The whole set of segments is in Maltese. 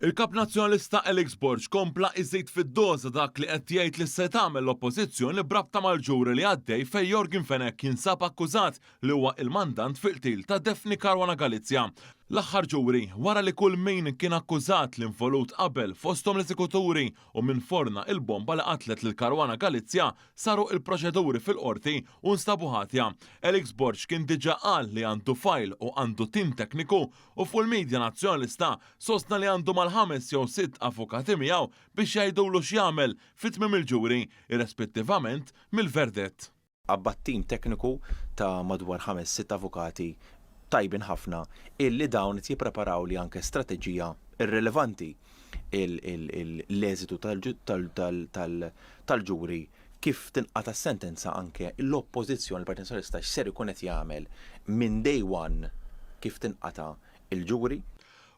Il-Kap Nazzjonalista Alex Borg kompla iżid fid-doża dak li qed jgħid li se tagħmel l-Oppożizzjoni b'rabta mal-ġuri li għaddej fejn Yorgen Fenech jinsab akkużat li huwa il-mandant fil-qtil ta' Daphne Caruana Galizia, l-aħħar ġuri, wara li kull min kien akkużat li involut qabel, fosthom l-eżekuturi u min forna il-bomba li qatlet lil Caruana Galizia, saru il-proċeduri fil-Qorti u nstabu ħatja. Alex Borg kien diġa qal li għandu fajl u għandu tim tekniku u fuq il-midja Nazzjonalista sostna li għandu mal-ħames jew sitt avukati miegħu biex jgħidulu x'jagħmel fi tmiem il-ġuri, irrespettivament mill-verdett. Qabbad tim tekniku ta' madwar ħames sitt avukati tajbin ħafna illi dawn qed jippreparawli anke strateġija irrilevanti l-eżitu tal-ġuri kif tinqata' s-sentenza anke l-Oppożizzjoni, il-Partit Nazzjonalista x'ser ikun qed jagħmel minn day one kif tinqata' l-ġuri.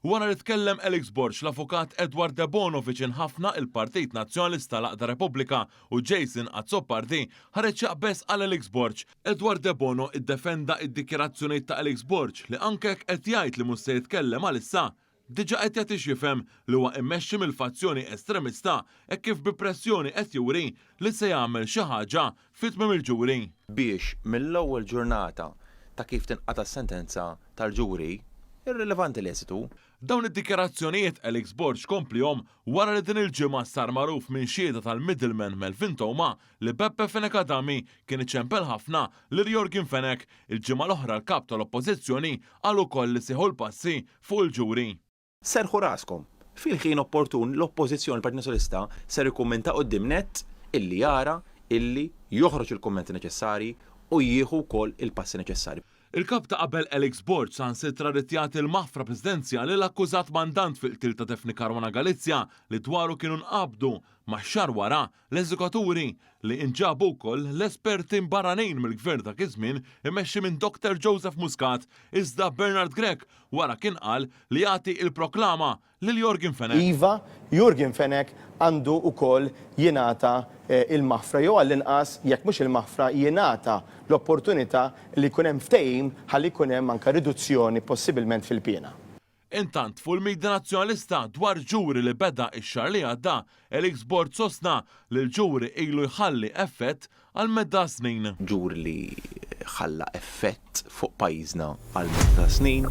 Wara li tkellem Alex Borg, l-Avukat Edward Debono viċin ħafna il-Partit Nazzjonalista l-Għaqda Repubblika u Jason Azzopardi ħareġ jaqbeż għal Alex Borg. Edward Debono iddefenda d-dikjarazzjonijiet ta' Alex Borg li anke jekk qed jgħid li mhux se jitkellem għalissa, diġà qed jagħtix jifhem li huwa immexxi mill-fazzjoni estremista hekk kif bi pressjoni qed juri li se jagħmel xi ħaġa fi tmiem il-ġuri. biex mill-ewwel ġurnata ta' kif tinqata' s-sentenza tal-ġuri, irrilevanti l-eżitu. Dawn id-dikjarazzjonijiet Alex Borg kompliehom wara li din il-ġimgħa sar magħruf minn xhieda tal-middleman Melvin Theuma li Beppe Fenech Adami kien iċempel ħafna lil Yorgen Fenech. Il-ġimgħa l-oħra l-Kap tal-Oppożizzjoni qal ukoll li sieħu l-passi fuq il-ġuri. Serrħu raskom! Fil-ħin opportun l-Oppożizzjoni, il-Partit Nazzjonalista, ser ikkummenta quddiem nett illi jara illi joħroġ il-kummenti neċessarji u jieħu wkoll il-passi neċessarji. Il-Kap ta' qabel Alex Borg saħansitra ried jagħti l-maħfra Presidenzjali l-akkużat mandant fil-qtil ta' Daphne Caruana Galizia li dwaru kienu nqabdu, ma' xahar wara, L-eżekuturi, li inġabu wkoll l-esperti barranin mill-Gvern dak iż-żmien imexxi minn Doktor Joseph Muscat, iżda Bernard Grech wara kien qal li jagħti il-proklama lil Yorgen Fenech. Iva, Yorgen Fenech għandu wkoll jingħata l-maħfra jew għall-inqas jekk mhux il-maħfra jingħata l-opportunità li jkun hemm ftehim ħalli jkun hemm anke riduzzjoni possibilment fil-piena. Intant, fuq il-midja Nazzjonalista dwar ġuri li beda x-xahar li għadda, Elix Borg sostna li l-ġuri ilu jħalli effett għal medda snin. Ġuri li ħalla effett fuq pajjiżna għal medda snin.